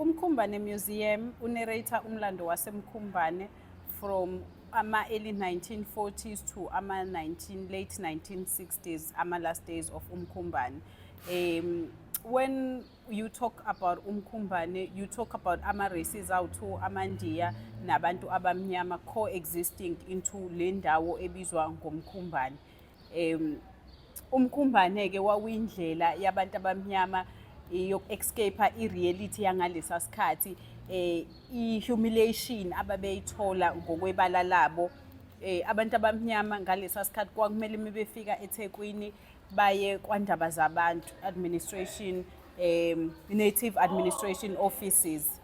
umkhumbane museum unerate umlando wasemkhumbane from ama early 1940s to ama 19 late 1960s ama last days of umkhumbane um when you talk about umkhumbane you talk about ama-races awu-two amandiya nabantu abamnyama co-existing into le ndawo ebizwa ngomkhumbane um umkhumbane-ke wawuyindlela yabantu abamnyama eh, yoku-escape-a i-reality yangalesa sikhathi eh i-humiliation ababeyithola ngokwebala labo eh abantu abamnyama ngalesa sikhathi kwakumele mebefika eThekwini baye kwandaba zabantu administration um native administration offices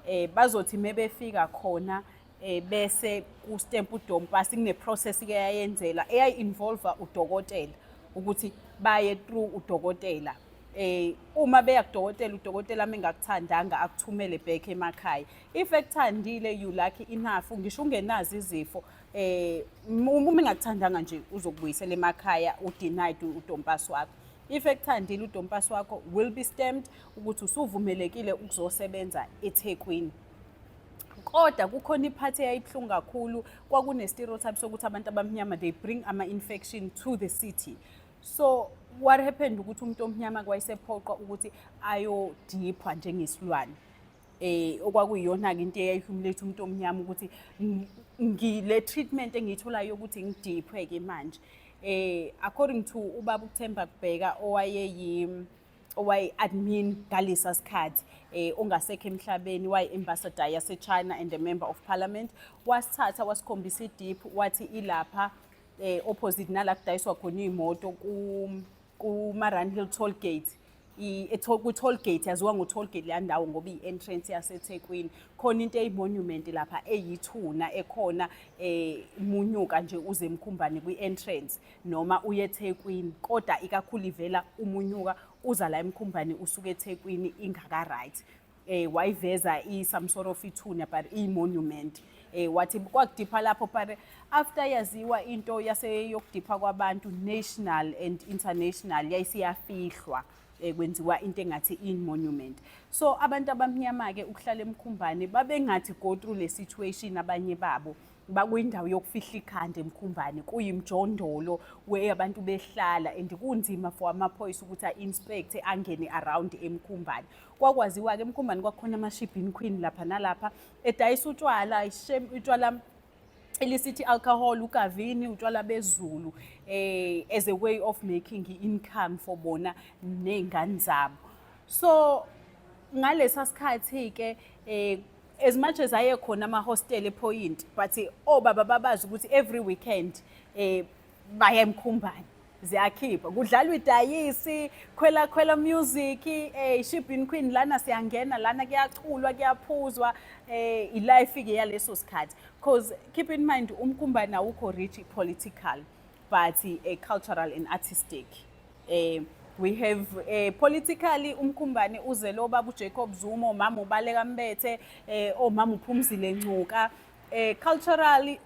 eh bazothi mebefika khona eh bese ku stamp udom pass kune process ke yayenzela eyayi involve udokotela ukuthi baye through udokotela eh uma beya kudokotela udokotela mengakuthandanga akuthumele back emakhaya if ekuthandile you lucky enough ngisho ungenazi izifo eh uma engakuthandanga nje uzokubuyisela emakhaya udenied udompasi wakho if ekuthandile udompasi wakho will be stamped ukuthi usuvumelekile ukuzosebenza ethekwini kodwa kukhona iphathi eyayibuhlungu kakhulu kwakune-stereotype sokuthi abantu abamnyama they bring ama-infection to the city so what happened ukuthi umuntu omnyama kwayisephoqwa ukuthi ayodiphwa njengesilwane eh okwakuyiyona-ke into eyayihumuletha umuntu omnyama ukuthi ngile treatment engiyitholayo ukuthi ngidiphwe-ke manje eh according to ubaba ukuthemba kubheka owayeyi owayi-admin ngalesa sikhathi eh ongasekho emhlabeni wayi-ambassador yasechina and a member of parliament wasithatha wasikhombisa idiphu wathi ilapha eh opposite nala kudayiswa khona iy'moto ku kumaranhill toll gate kwi-toll gate yaziwa ngo-toll gate leya ndawo ngoba iyi-entrance yasethekwini khona into eyimonument lapha eyithuna ekhona eh munyuka nje uze emkhumbane kwi-entrance noma uye ethekwini kodwa ikakhulu ivela umunyuka uza la emkhumbane usuke ethekwini ingaka-right eh wayiveza i some sort of ithuna but i monument eh wathi kwakudipha lapho but after yaziwa into yase yokudipha kwabantu national and international yayisiyafihlwa eh, kwenziwa into engathi in monument so abantu abamnyama ke ukuhlala emkhumbane babengathi go through le situation abanye babo bakwindawo yokufihla ikhanda emkhumbane kuyimjondolo where abantu behlala and kunzima for amaphoyisa ukuthi a-inspect angene around emkhumbane kwakwaziwa-ke emkhombani kwakhona amashibhini queen lapha nalapha edayisa utshwala ishem utshwala illicit alcohol ukavini utshwala bezulu eh as a way of making income for bona nezingane zabo so ngalesa sikhathi ke eh as much as aye khona ama hostel ePoint but obaba babazi ukuthi every weekend eh baya emkhumbane ziyakhipha kudlalwa idayisi khwela khwela music eh shibin queen lana siyangena lana kuyaculwa kuyaphuzwa eh ilife ke yaleso sikhathi because keep in mind umkhumba nawukho rich political but a eh, cultural and artistic eh we have eh, politically umkhumbane uzelo babu Jacob Zuma omama ubaleka mbethe eh omama uphumzile ncuka eh culturally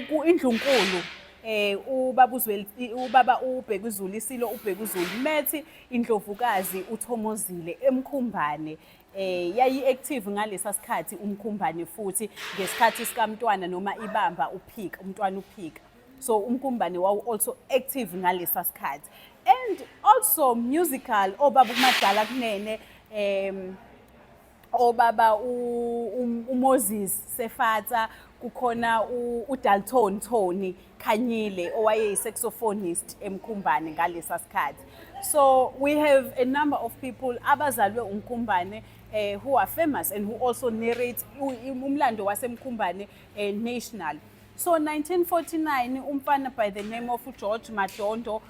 ku indlunkulu eh ubaba uzwe ubaba ubheka izulu isilo ubheka izulu methi indlovukazi uthomozile emkhumbane eh yayi active ngalesa sikhathi umkhumbane futhi ngesikhathi sikamntwana noma ibamba uphika umntwana uphika so umkhumbane wawu also active ngalesa sikhathi and also musical obaba umadala kunene um obaba uMoses Sefatsa kukhona uDalton Tony Khanyile owayeyisaxophonist eMkhumbane ngalesa sikhathi so we have a number of people abazalwe uMkhumbane eh, who are famous and who also narrate umlando waseMkhumbane eh, national so 1949 umfana by the name of uGeorge Madondo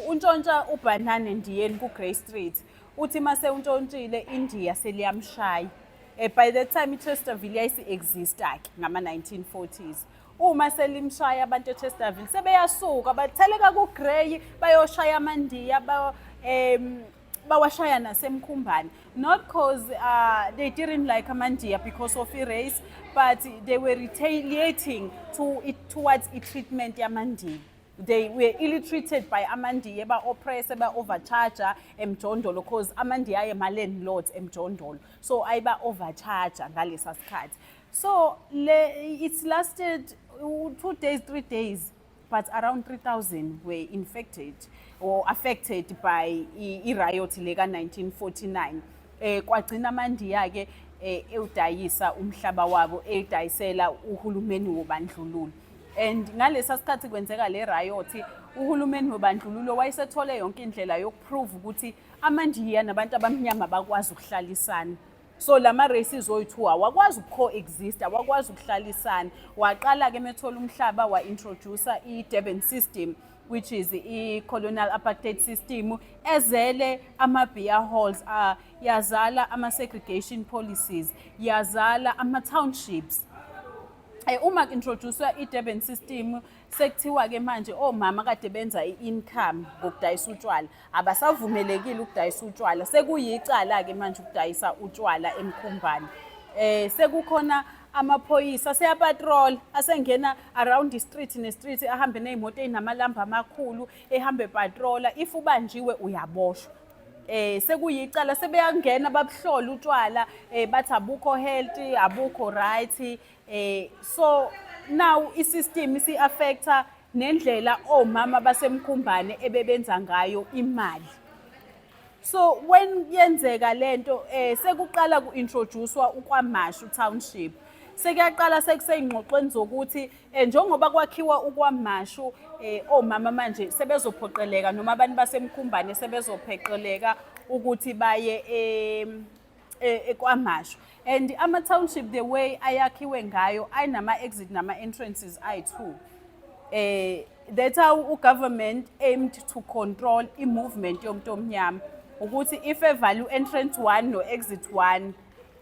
untshontsha ubhanane ndiyeni ku-Grey Street uthi uma sewuntshontshile indiya seliyamshaya um by the time ichesterville yayisi-exista-ke ngama-nineteen forties uma selimshaya abantu echesterville sebeyasuka batheleka kugreyi bayoshaya amandiya um bawashaya nasemkhumbane not because uh, they didn't like amandiya because of i-race but they were retaliating to it, towards i-treatment yamandiya they were ill treated by amandiya eba-oppress eba-overcharger emjondolo because amandiya aye ma-landlords emjondolo so ayiba-overcharger ngalesa sikhathi so le, it's lasted uh, two days three days but around 3000 were infected or affected by i-riot le ka-1949 um eh, kwagcina amandiya-ke um eh, ewudayisa umhlaba wabo ewudayisela uhulumeni wobandlululo and ngalesa sikhathi kwenzeka le riot uhulumeni wobandlululo wayesethole yonke indlela yokuprove ukuthi amandiya nabantu abamnyama bakwazi ukuhlalisana so la ma-races oyi-two awakwazi uku-coexist awakwazi ukuhlalisana waqala-ke methola umhlaba wa-introducer i-durban system which is i-colonial apartheid system ezele ama-beer halls uh, yazala ama-segregation policies yazala ama-townships Eh, uma introduced i-Durban system sekuthiwa ke manje omama kade benza i-income ngokudayisa utshwala abasavumelekile ukudayisa utshwala sekuyicala ke manje ukudayisa utshwala emkhumbane eh sekukhona amaphoyisa seyapatrol asengena around street nestreet ahambe nezimoto ezinamalambu amakhulu ehambe patrola if ubanjiwe uyaboshwa eh sekuyicala sebeyangena babuhlola utshwala eh bathi abukho healthy abukho right eh so now isystem isi affecta nendlela omama basemkhumbane ebebenza ngayo imali so when yenzeka lento eh sekuqala kuintroducewa uKwaMashu township sekuyaqala sekuseyingxoxweni zokuthi Eh, njengoba kwakhiwa ukwamashu eh, omama manje sebezophoqeleka noma abantu basemkhumbane sebezopheqeleka ukuthi baye eh, eh, kwamashu and ama-township the way ayakhiwe ngayo ayinama-exit nama-entrances ayi-two eh, that's how ugovernment aimed to control i-movement yomuntu omnyama ukuthi if evalue entrance one no-exit one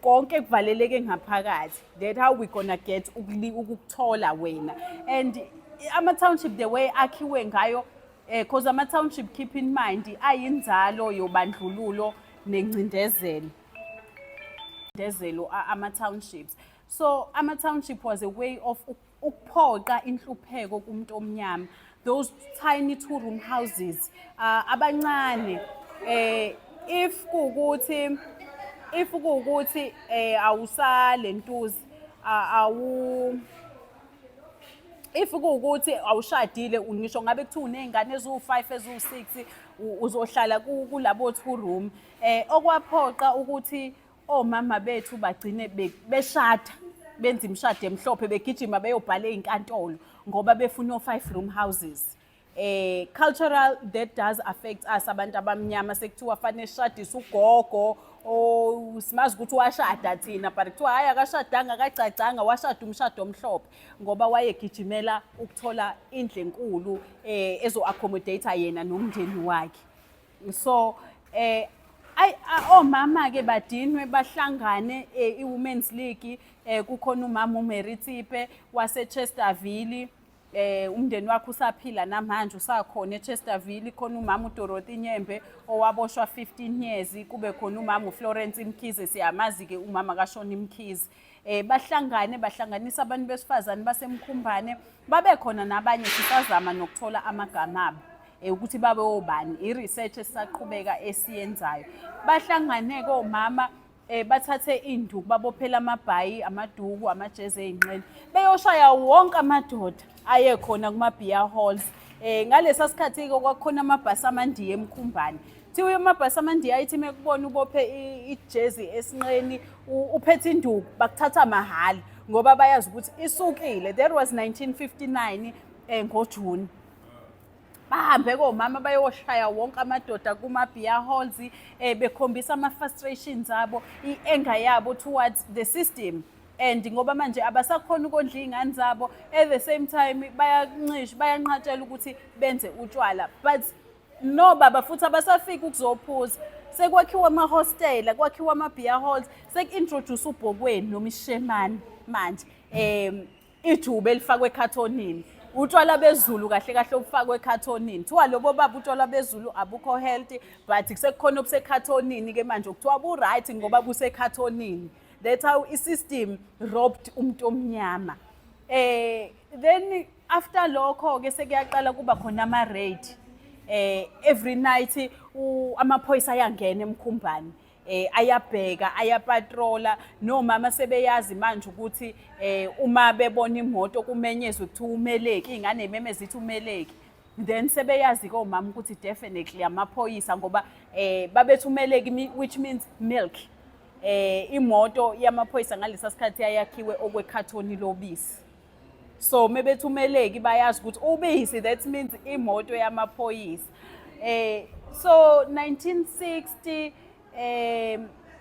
konke kuvaleleke ngaphakathi that how we gonna get ukuthola wena and ama-township the way akhiwe ngayo because eh, ama-township keep in mind ayinzalo yobandlululo nengcindezelo ngcindezelo ama-townships so ama-township was a way of ukuphoqa inhlupheko kumuntu omnyama those tiny two room houses uh, abancane eh if kukuthi if kukuthi eh awusale ntuzi awu if kuwukuthi awushadile ngisho ngabe kuthiwa uney'ngane eziwu-five eziwu-six uzohlala kulabo two room um okwaphoqa ukuthi omama bethu bagcine be- beshada benza imishado emhlophe begijima beyobhala ey'nkantolo ngoba befuna o-five room houses eh cultural that does affect us abantu abamnyama sekuthiwa fanele sishadise ugogo o simazi ukuthi washada thina but kuthiwa hhayi akashadanga akagcagcanga washada umshado omhlophe ngoba wayegijimela ukuthola indle enkulu um ezo-accommodate yena nomndeni wakhe so eh ay omama ke badinwe bahlangane eh, iwomen's league eh kukhona umama uMary Tsipe wase Chesterville eh umndeni wakhe usaphila namanje usakhona eChesterville khona umama uDorothy Nyembe owaboshwa 15 years kube khona umama uFlorence Mkhize siyamazi ke umama kaShoni Mkhize eh bahlangane bahlanganisa abantu besifazane basemkhumbane babe khona nabanye sisazama nokuthola amagama abo eh, ukuthi babe obani i-research esisaqhubeka esiyenzayo bahlangane komama eh bathathe induku babophela amabhayi amaduku amajezi ezinqeni beyoshaya wonke amadoda aye khona kuma-beer halls um ngalesa sikhathi-ke kwakukhona amabhasi amandiya emkhumbane kuthiwa amabhasi amandiya ayithi uma kubona ubophe ijezi esinqeni uphethe induku bakuthatha mahhala ngoba bayazi ukuthi isukile that was 1959 um ngojuni bahambe komama bayoshaya wonke amadoda kuma-beer halls um bekhombisa ama-frustrations abo i-anger yabo towards the system and ngoba manje abasakhona ukondla iy'ngane zabo at the same time bayancisha bayanqatshela ukuthi benze utshwala but no baba futhi abasafiki ukuzophuza sekwakhiwa amahostela kwakhiwa ama-beer halls seku-introduce ubhokweni nomishemane manje um ijuba elifakwe ekhathonini utshwala bezulu kahle kahle obufakwe ekhathonini kuthiwa lobo baba utshwala bezulu abukho healthy but sekukhona obusekhathonini-ke manje okuthiwa bu-right ngoba busekhathonini that's how i-system robbed umuntu omnyama eh then after lokho ke sekuyaqala kuba khona ama raid eh every night amaphoyisa ayangena emkhumbani eh ayabheka ayapatrola nomama sebeyazi manje ukuthi eh uma bebona imoto kumenyezwe ukuthi umeleki ingane imemeza ithi umeleki then sebeyazi ke omama ukuthi definitely amaphoyisa ngoba eh babethumeleki which means milk eh imoto yamaphoyisa ngalesa sikhathi yayakhiwe okwekhathoni lobisi so mebethumeleki bayazi ukuthi ubisi that means imoto yamaphoyisa eh so 1960 eh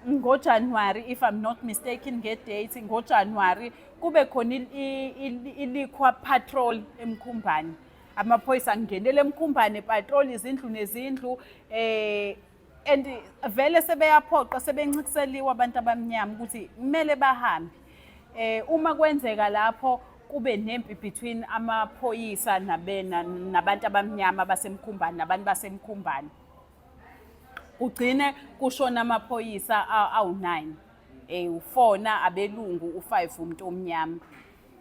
ngoJanuary if i'm not mistaken ngedate ngoJanuary kube khona ilikhwa patrol emkhumbane amaphoyisa angenele emkhumbane patrol izindlu nezindlu eh and vele sebeyaphoqa sebencikiseliwe abantu abamnyama ukuthi kumele bahambe eh uma kwenzeka lapho kube nempi between amaphoyisa nabena nabantu abamnyama basemkhumbani nabantu basemkhumbani kugcine kushona amaphoyisa awu-9 eh ufona abelungu u5 umuntu omnyama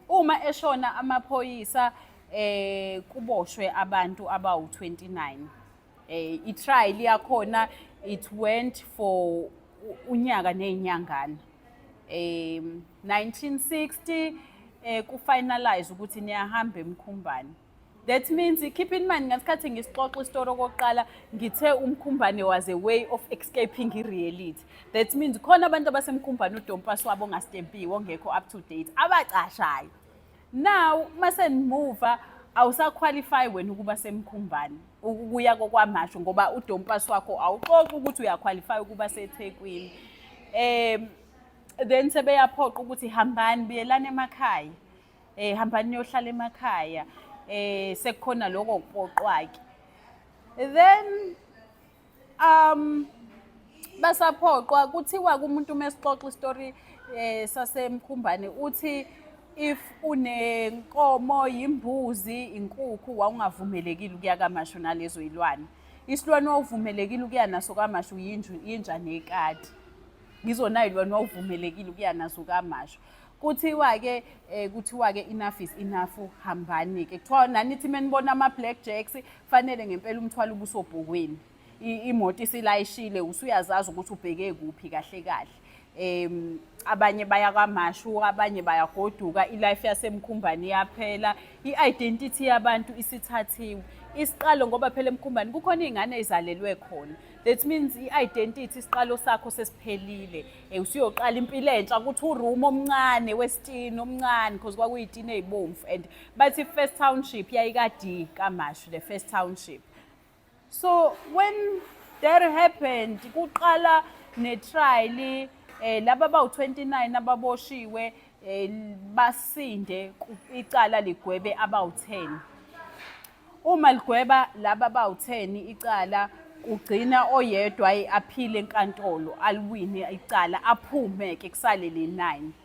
uma eshona amaphoyisa eh kuboshwe abantu abawu29 eh i-trial yakhona it went for unyaka nezinyangana eh 1960 eh ku finalize ukuthi niyahamba emkhumbane that means keep in mind ngesikhathi ngisixoxa isitori okokuqala ngithe umkhumbane was a way of escaping i-reality that means khona abantu abasemkhumbane udompas wabo ongastempiwe ongekho up to date abacashayo now masendimuva awusaqualify wena ukuba semkhumbane ukuya kokwamasho ngoba udompasi wakho awuxoxi ukuthi uyaqualify ukuba sethekwini um then sebeyaphoqa ukuthi hambani buyelani emakhaya um hambani niyohlala emakhaya um sekukhona lokho kupoqwake then Um basaphoqwa kuthiwa kumuntu uma esixoxa isitori eh sasemkhumbane uthi if unenkomo yimbuzi inkukhu wawungavumelekile ukuya kamashu nalezo ilwane isilwane wawuvumelekile ukuya naso kamashu yinju yinja nekati ngizona ilwane wawuvumelekile ukuya naso kamashu kuthiwa-ke um eh, kuthiwa-ke enough is enough hambani-ke kuthiwa nanithi uma nibona ama-black jacks Fanele ngempela umthwalo ubusobhokweni. Imoto isilayishile usuyazazi ukuthi ubheke kuphi kahle kahle. Em abanye baya kwamashu, abanye bayagoduka, ilife yasemkhumbani iyaphela, i-identity yabantu isithathiwe. Isiqalo ngoba phela emkhumbani kukhona izingane ezalelwe khona. That means i-identity isiqalo sakho sesiphelile. Eh usuyoqala impilo entsha ukuthi uroom omncane westini omncane because kwakuyitini ezibomvu and Bathi first township yayikadi kaMashu the first township. So when that happened kuqala netrial eh laba bawu29 ababoshiwe eh, basinde icala ligwebe abawu10 uma ligweba laba bawu10 icala ugcina oyedwa aphile enkantolo aliwine icala aphume ke kusale le 9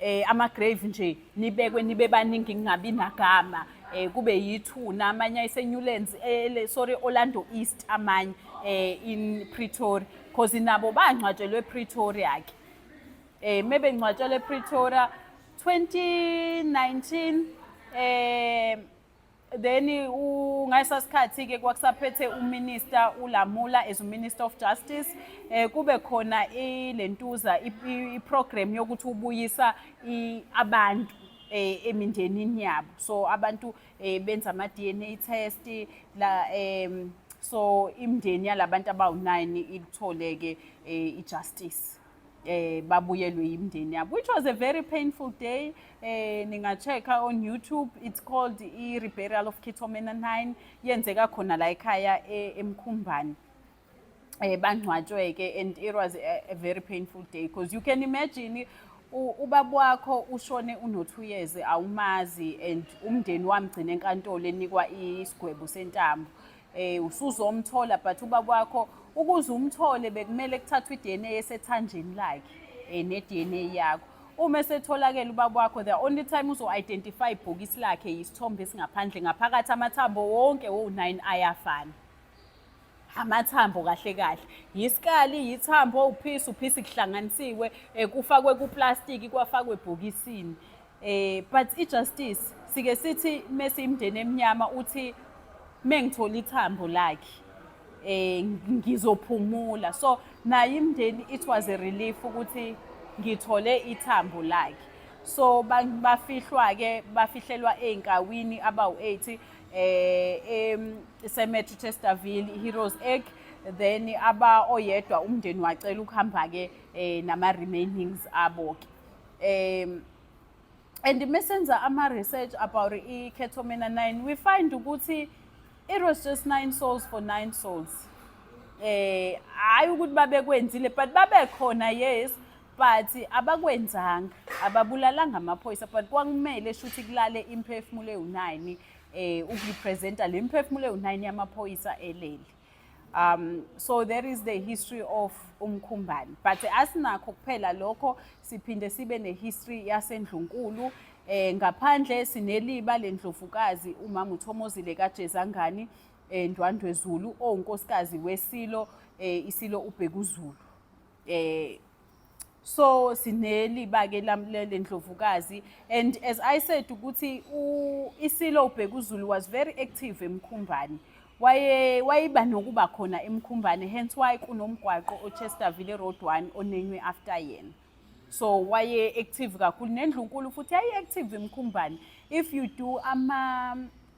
eh ama-grave nje nibekwe nibe baningi ngingabi nagama eh kube yithuna amanye ayiseNewlands eh sorry Orlando East amanye eh in Pretoria because nabo bangcwatshelwe ePretoria ke eh mebe ngcwatshelwe ePretoria 2019 eh then ngayisa sikhathi ke kwakusaphethe uminister ulamula as uminister of justice eh kube khona ilentuza iprogram yokuthi ubuyisa abantu eh, emindenini yabo so abantu eh, benza ama DNA test la em so imndeni yalabantu abawu9 ilitholeke eh, ijustice eh babuyelwe yimndeni yabo which was a very painful day eh ningacheka on YouTube it's called i reburial of Kithomena 9 yenzeka khona la ekhaya e, emkhumbani eh bangcwatshwe ke and it was a, a very painful day because you can imagine ubaba wakho ushone uno 2 years awumazi and umndeni wamgcina enkantolo enikwa isigwebo sentambo Eh usuzomthola but ubaba wakho ukuze umthole bekumele kuthathwe iDNA esethanjeni lakhe eh neDNA yakho. Uma esetholakele ubaba wakho the only time uzo identify ibhokisi lakhe yisithombe esingaphandle ngaphakathi amathambo wonke wo9 ayafana. amathambo kahle kahle yisikali yithambo uphisi uphisi kuhlanganisiwe eh, kufakwe kuplastiki kwafakwe ebhokisini Eh but i justice sike sithi mese imndeni emnyama uthi mengithola ithambo lakhe eh ngizophumula so naye imndeni it was a relief ukuthi ngithole ithambo lakhe so bafihlwa ke bafihlelwa einkawini abawu 80 eh esemetri Chesterville Heroes Egg then aba oyedwa umndeni wacela ukuhamba ke eh, nama remainings abo ke um and mesenza ama-research about i-ketomena 9 we find ukuthi it was just nine souls for nine souls eh hayi ukuthi babekwenzile but babekhona yes but abakwenzanga ababulalanga amaphoyisa but kwakumele shuthi kulale imphefumulo ewu-9 eh ukurepresenta le mphefumulo ewu-9 yamaphoyisa elele Um, so there is the history of umkhumbane but asinakho kuphela lokho siphinde sibe nehistory yasendlunkulu eh ngaphandle sineliba lendlovukazi umama uThomozile kaJezangani eh Ndwandwe Zulu owunkosikazi wesilo eh isilo uBhekuzulu eh so sineli bake lamlele ndlovukazi and as i said ukuthi isilo ubheka uzulu was very active emkhumbani waye wayiba nokuba khona emkhumbane hence why kunomgwaqo ochesterville road one onenywe after yena so waye active kakhulu nendlunkulu futhi yayi active emkhumbane if you do ama